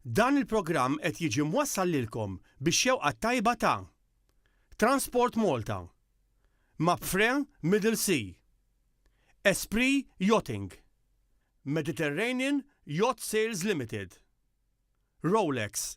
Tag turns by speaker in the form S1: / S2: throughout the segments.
S1: Dan il-programm qed jiġi mwassal lilkom bix-xewqa t-tajba ta' Transport Malta, Mapfre Middle Sea, Esprit Yachting, Mediterranean Yacht Sales Limited, Rolex,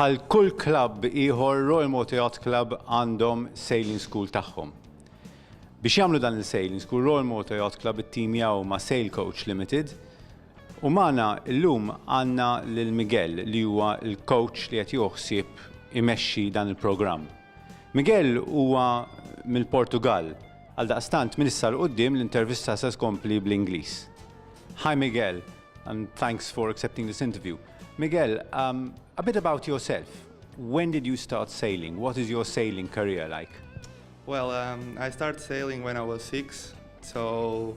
S2: Bħal kull klabb ieħor Royal Motor Yacht Club għandhom sailing school tagħhom. Biex jagħmlu dan il-sailing school, Royal Motor Yacht Club ittimjaw ma' Sail Coach Limited U magħna llum għandna lil Miguel li huwa l-coach li qed jieħu ħsieb imexxi dan il-programm. Miguel huwa mill-Portugall, għaldaqstant minn issa 'l quddiem l-intervista se tkompli bl-Ingliż. Hi Miguel and thanks for accepting this interview. Miguel, a bit about yourself. When did you start sailing? What is your sailing career like? Well,
S3: I started sailing when I was six, so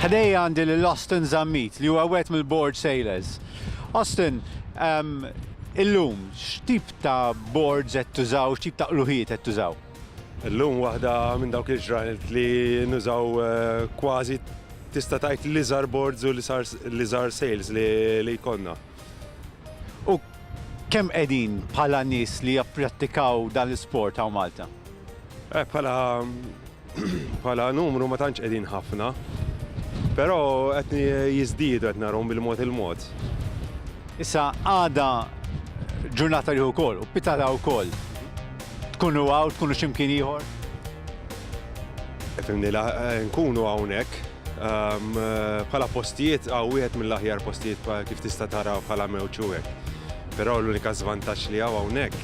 S2: Ħdejja għandi lil Austin Zammit li huwa wieħed mill-board sailors. Austin, illum x'tip ta' boards qed tużaw, x'tip ta' qluħijiet qed tużaw? Illum waħda
S4: minn dawk il-ġranet li nużaw kważi tista' tgħid li żar boards u li żar sales li jkollna.
S2: U kemm qegħdin bħala nies li japprattikaw dan l-isport hawn Malta?
S4: Bħala numru ma tantx qegħdin ħafna, però qed jiżdiedu qed narahom bil-mod il-mod.
S2: Issa għada ġurnata li hu wkoll u pitala wkoll. Tkunu hawn, tkunu x'imkien ieħor?
S4: Fimni la eh, nkunu hawnhekk ehm, eh, bħala postijiet għaw wieħed mill-aħjar postijiet kif tista' tara bħala mewċu hekk. Però l-unika żvantaġġ li hawn hawnhekk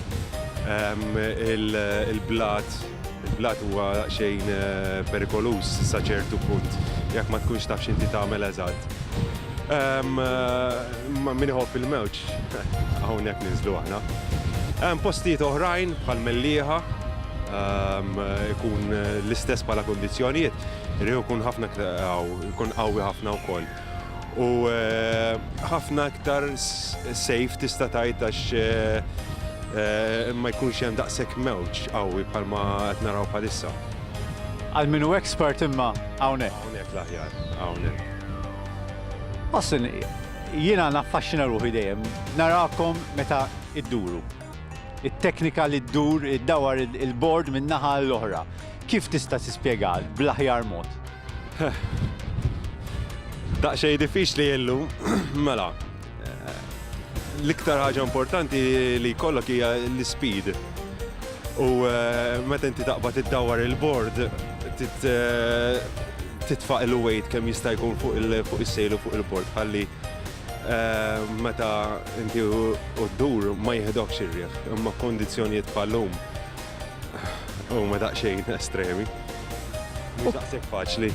S4: ehm, il-blat il-blat huwa xejn eh, perikoluż sa ċertu punt jekk ma tkunx taf x'inti tagħmel eżatt. Ehm, ma min iħobb il-mewġ. Hawnhekk ninżlu aħna. Hemm postijiet oħrajn bħal Mellieħa ikun l-istess bħala kundizzjonijiet, riħu jkun ħafna jkun qawwi ħafna wkoll. U ħafna iktar safe tista' tgħid għax ma jkunx hemm daqshekk mewġ qawwi bħalma qed naraw bħalissa. Għal
S2: min hu expert imma hawnhekk. Hawnhekk l-aħjar,
S4: hawnhekk.
S2: Ħossni. Jiena naffaxxina ruħi dejjem narakom meta idduru. It-teknika li ddur iddawwar il-bord minn naħa għall-oħra. Kif tista' tispjegha bl-aħjar mod?
S4: Daqsxejn diffiċli illum. Mela, l-iktar ħaġa importanti li jkollok hija l-ispeed. u meta inti taqbad iddawwar il-bord titfa' il-weight kemm jista' jkun fuq is-sejl u fuq il-bord ħalli meta inti u ddur ma jiħdokx ir-riħ. Imma f'kundizzjonijiet bħal-lum huma daqsxejn estremi. Mhux daqshekk faċli.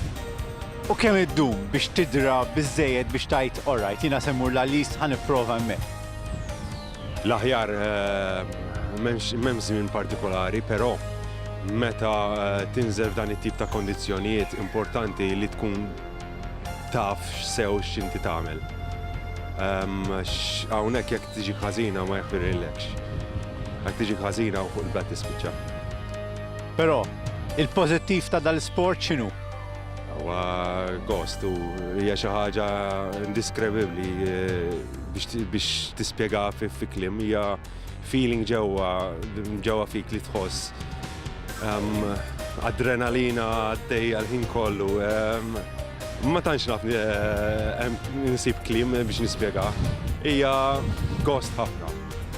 S4: U kemm
S2: iddum biex tidra biżżejjed biex tgħid alright jiena se mmur l-Għallis ħa nipprova hemmhekk?
S4: L-aħjar m'hemm żmien partikolari, però meta tinżel f'dan it-tip ta' kondizzjonijiet importanti li tkun taf sew x'inti tagħmel. Għax hawnhekk jekk tiġik ħażina ma jaħfirillekx. Jekk tiġik ħażina hawn fuq il-blat tispiċċa. Però,
S2: il-pożittiv ta' dal-isport x'inhu? Huwa
S4: gost u hija xi ħaġa indiskrevibbli. biex tispjegaha fi kliem hija feeling ġewwa ġewwa fik li tħoss adrenalina għaddejja l-ħin kollu. Ma tantx naf eh, nsib kliem biex nispjegah. Hija gost ħafna.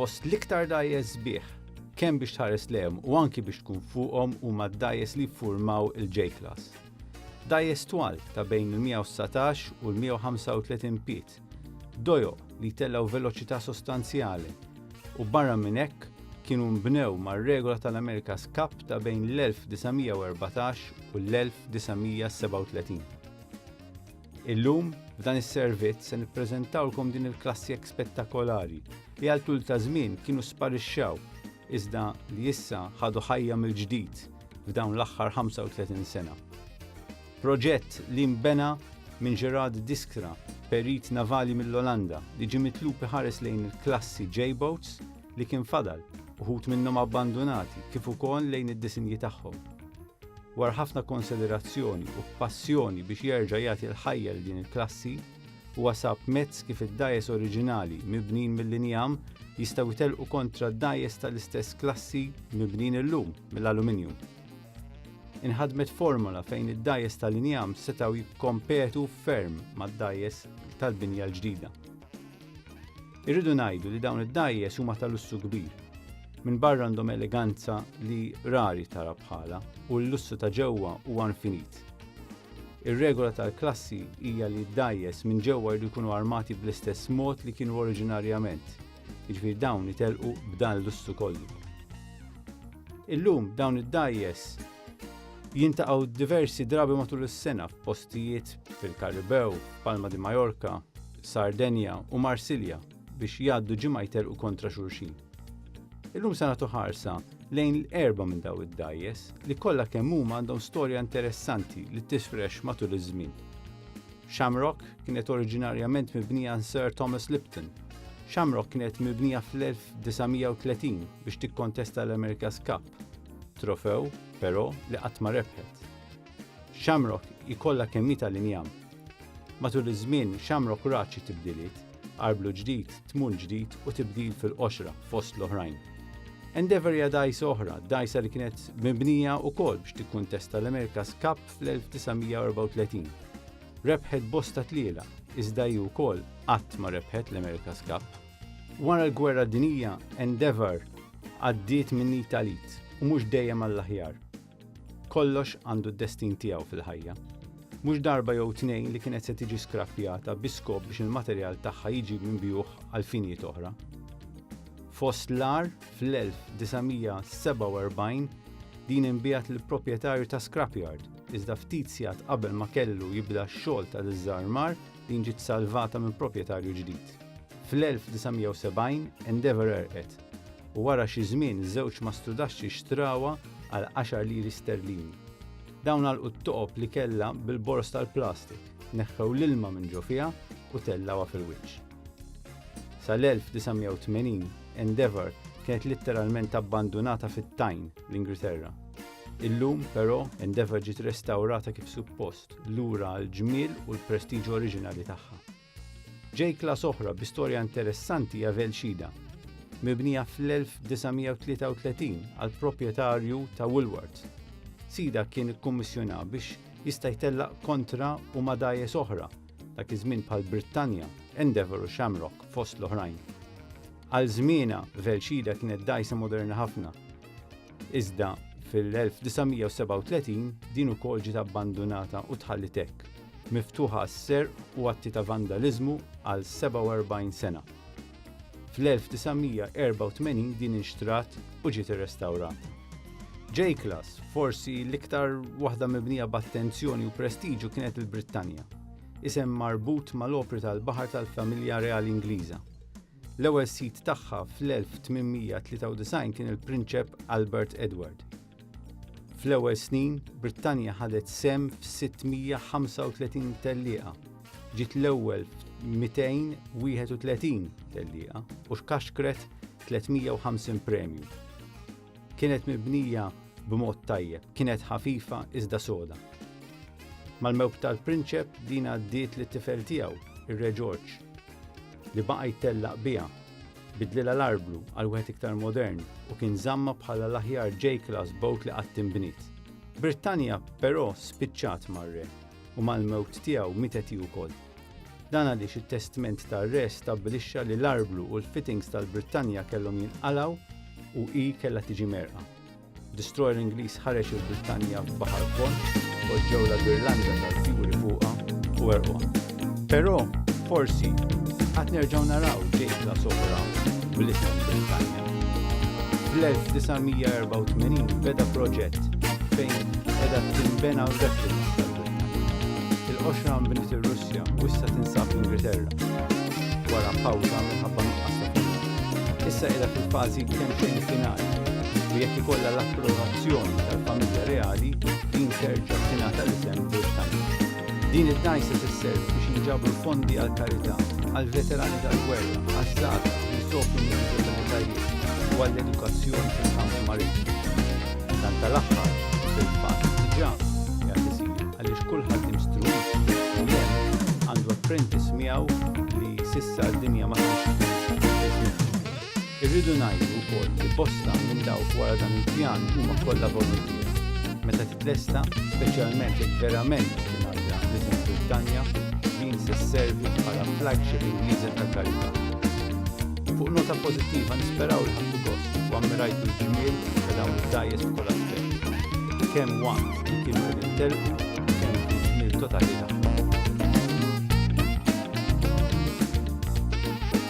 S2: Fost l-iktar dajes sbieħ, kemm biex tħares lehem u anki biex tkun fuqhom huma d-dajes li ffurmaw il-J-Class. Dajes twal ta' bejn il-119 u l-135 piet ħadd, dojoq li jtellgħu veloċità sostanzjali, u barra minn hekk kienu nbnew mar-regola tal-America's Cup ta' bejn l-1914 u l-1937. Illum, f'dan is-servizz se nippreżentawlkom din il-klassjek spettakolari li għal tul ta' żmien kienu sparixxew iżda li issa ħadu ħajja mill-ġdid f'dawn l-aħħar 35 sena. Proġett li nbena minn Gerard Diskra, perit navali mill-Olanda, li ġie mitlub iħares lejn il-klassi J-boats li kien fadal, uħud minnhom abbandunati, kif ukoll lejn id-disinji tagħhom. Wara ħafna konsiderazzjoni u b'passjoni biex jerġa' jagħti l-ħajja lil din il-klassi, huwa sab mezz kif id-dajes oriġinali mibnijin mill-injam jistgħu jtellqu kontra d-dajes tal-istess klassi mibnijin illum mill-aluminjum. Inħadmet formola fejn id-dajes tal-injam setgħu jikkompetu ferm mad-dajes tal-binja l-ġdida. Irridu ngħidu li dawn id-dajes huma tal-lussu kbir. Minn barra għandhom eleganza li rari tara bħala u l-lussu ta' ġewwa huwa infinit. Ir-regola tal-klassi hija li d-dajes minn ġewwa jridu jkunu armati bl-istess mod li kienu oriġinarjament, Jiġifieri dawn itelqu b'dan l-lussu kollu. Illum dawn id-dajjes jintaqgħu diversi drabi matul is-sena f'postijiet fil-Karibew, Palma di Majorka, Sardenja u Marsilja biex jgħaddu ġimgħa jtelqu kontra xulxin. Illum se nagħtu ħarsa lejn l-erba minn daw id-dajjes li kollha kemm huma għandhom storja interessanti li tisfrex matul iż-żmien. Shamrock kienet oriġinarjament mibnija għan Sir Thomas Lipton. Shamrock kienet mibnija fl-1930 biex tikkontesta l-America's Cup, trofew, però, li qatt ma rebħet. Shamrock ikolla kemmi tal-injam. Matul iż-żmien, Shamrock raċi tibdiliet, arblu ġdid, tmun ġdid u tibdil fil-qoxra fost l-oħrajn. Endeavor hija dajsa oħra, dajsa li kienet mibnija wkoll biex tikkuntesta l-America's Cup fl-1934. Rebħet bosta tliela, iżda hi wkoll qatt ma rebħet l-America's Cup. Wara l-Gwerra Dinija, Endeavour għaddiet minn italit u mhux dejjem għall-aħjar. Kollox għandu d-destin tiegħu fil-ħajja. Mhux darba jew tnejn li kienet se tiġi skrappjata bi skop biex il-materjal tagħha jiġi minbijuħ għal finijiet oħra. Fost l-ar Fl-1947 din inbiegħet lill-proprjetarju ta' scrapyard, iżda ftit sigħat qabel ma kellu jibda x-xogħol ta' diżarmar din ġiet salvata minn proprjetarju ġdid. Fl-1970 Endeavour għerqet u wara xi żmien żewġ mastrudaxxi xtrawha għal għaxar liri sterlini. Dawn għalqu t-toqob li kellha bil-boroż tal-plastik, neħħew l-ilma minn ġo fiha u tellgħuha fil-wiċċ. Sal-1980, Endeavour kienet litteralment abbandunata fit-tajn l-Ingilterra. Illum, però, Endeavour ġiet restawrata kif suppost lura għall-ġmiel u l-prestiġju oriġinali tagħha. Ġej klas oħra bi storja interessanti hija Velxida, mibnija fl-1933 għal proprjetarju ta' Woolworth. Sida kien ikkummissjona biex jista' jtellaq kontra u madajes oħra dak iż-żmien bħal Brittanja, Endeavour u Shamrock fost l-oħrajn. Għal żmiena Velxida kienet dajsa moderna ħafna. Iżda fil-1937 din ukoll ġiet abbandunata u tħalli tek, miftuħa għas-serq u atti ta' vandaliżmu għal 47 sena. Fl-1984 din inxtrat u ġiet irrestawrata. J-Class, forsi l-iktar waħda mibnija b'attenzjoni u prestiġu kienet il-Brittanja, isem marbut mal-opri tal-baħar tal-familja reali Ingliża. L-ewwel sid tagħha fl-1893 kien il-Prinċep Albert Edward. Fl-ewwel snin, Brittanja ħadet sehem f'635 tellieqa, ġiet l-ewwel f'231 tellieqa u xkaxkret 350 premju. Kienet mibnija b'mod tajjeb, kienet ħafifa iżda soda. Mal-mewt tal-prinċep din għaddiet lit-tifel tiegħu, ir-Re Ġorġ, li baqa' jtellaq biha Bidlilha l-arblu għal wieħed iktar modern u kien żammha bħala l-aħjar J-Class boat li qatt inbniet. Brittanja, però, spiċċat mar-re, u mal-mewt tiegħu mietet hi wkoll. Dan għaliex it-testment tar-re stabbilixxa li l-arblu u l-fittings tal-Brittanja kellhom jinqalgħu u hi kellha tiġi merqa. Destroyer Ingliż ħareġ il-Brittanja f'baħar fond, poġġew la l-Irlanda tal-fjuri fuqha u erquha. Però forsi qatt nerġgħu naraw ġejtla sopra bl-isem Brittanja. Fl-1984 beda proġett fejn edha timbena replika il-qoxra nbniet ir-Russja u issa tinsab l-Ingilterra wara pawża minħabba nuqqas ta' Issa qiegħda fil-fażi kemm xejn finali u jekk ikollha l-approvazzjoni tal-familja reali, din terġa' tingħata l-isem Birtanic. Din id-dgħajsa tisservi biex jinġabru fondi għall-karità, għall-veterani tal-gwerra, għaż-żgħażagħ li jsofru minn diżabilitajiet u għall-edukazzjoni fil-kamp marittimu. Dan tal-aħħar, fil-fatt, diġà qiegħed isir għaliex kulħadd imstruwit u hemm għandu apprentice miegħu li s'issa d-dinja ma tantx Irridu ngħidu wkoll li bosta minn dawk wara dan il-pjan huma kollha voluntiera. Meta titlesta, speċjalment jekk verament tingħadda l-isem Brittanja, din se sservi bħala flagship Ingliża tal-karità. Fuq nota pożittiva nisperaw li ħadtu gost u ammirajtu l-ġmiel ta' dawn id-dgħajjes f'kull aspett, kemm waqt li kienu qegħdin telqu u kemm fil-ġmiel totali tagħhom.